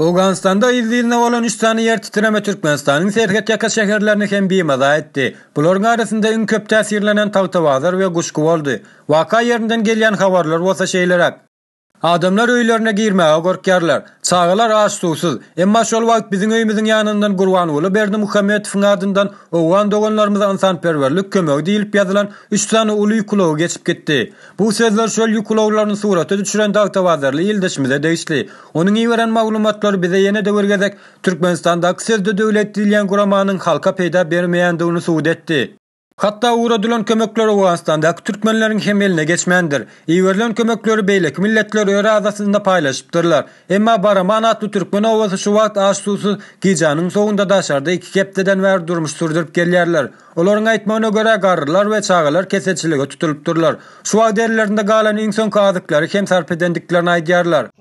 Owganystanda yz ýylyna bolan üç sany ýer titreme Türkmenistanyň serhet ýaka şäherlerini hem bimaza etdi. Bularyň arasynda iň köp täsirlenen Tagtabazar we Guşgy boldy. Waka ýerinden gelýän habarlar bolsa şeýleräk. Adamlar öýlerine girmäge gorkýarlar. Çagalar aç-suwsuz. Emma şol wagt biziň öýümiziň ýanyndan Gurbanguly Berdimuhamedowyň adyndan owgan doganlarymyza ynsanperwerlik kömegi diýlip ýazylan üç sany uly ýük ulagy geçip gitdi. Bu sözler şol ýük ulaglaryny surata düşüren dagtabazarly ildeşimize degişli. Onuň iberen maglumatlary bize ýene-de bir gezek Türkmenistandaky sözde döwlet diýilýän guramanyň halka peýda bermeýändigini subut etdi. Hatda ugradylan kömekler Owganystandaky türkmenleriň hem eline geçmändir. Iberilen kömekleri beýleki milletler öz arasynda paýlaşypdyrlar. Emma Baraman atly türkmen obasy şu wagt aç-suwsuz, gijäniň sowugynda daşarda iki hepdeden bäri durmuş sürdürip gelýärler. Olaryň aýtmagyna görä, garrylar we çagalar keselçilige tutulypdyrlar. Şu wagt ellerinde galan iň soňky azyklary hem sarp edendiklerini aýdýarlar.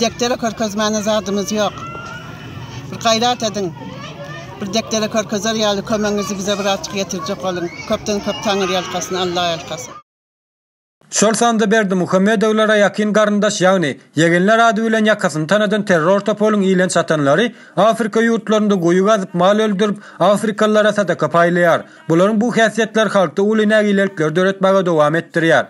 Dekdere körkezmäne zadymyz ýok. Bir gaýrat ediň. Bir dekdere körkezer ýaly kömegiňizi bize birazjyk ýetirjek boluň. Köpden köp Taňyrýalkasyn, Allaýalkasyn. Şol sanda Berdimuhamedowlara ýakyn garyndaş ýagny ýegenler ady bilen ýakasyny tanadan terror toparyň ile çatanlary Afrika ýurtlarynda guýy gazyp mal öldürip Afrikalylara sadaka paýlaýar. Bularyň bu häsiýetleri halkda uly nägilelikleri döretmäge dowam etdirýär.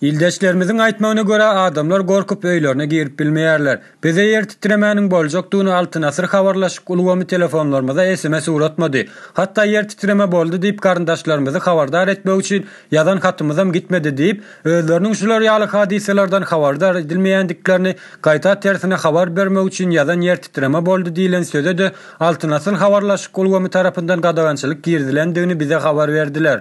Ildeşlerimiziň aýtmagyna görä, adamlar gorkup öýlerine girip bilmeýärler. Bize ýer titremäniň boljakdygyny Altyn asyr habarlaşyk ulgamy telefonlarymyza sms ugratmady. Hatda ýer titreme boldy diýip garyndaşlarymyzy habardar etmek üçin ýazan hatymyzam gitmedi diýip, özleriniň şular ýaly hadysalardan habardar edilmeýändiklerini gaýta tersine habar bermek üçin ýazan ýer titreme boldy diýlen söze-de Altyn asyr habarlaşyk ulgamy tarapyndan gadagançylyk girizilendigini bize habar berdiler.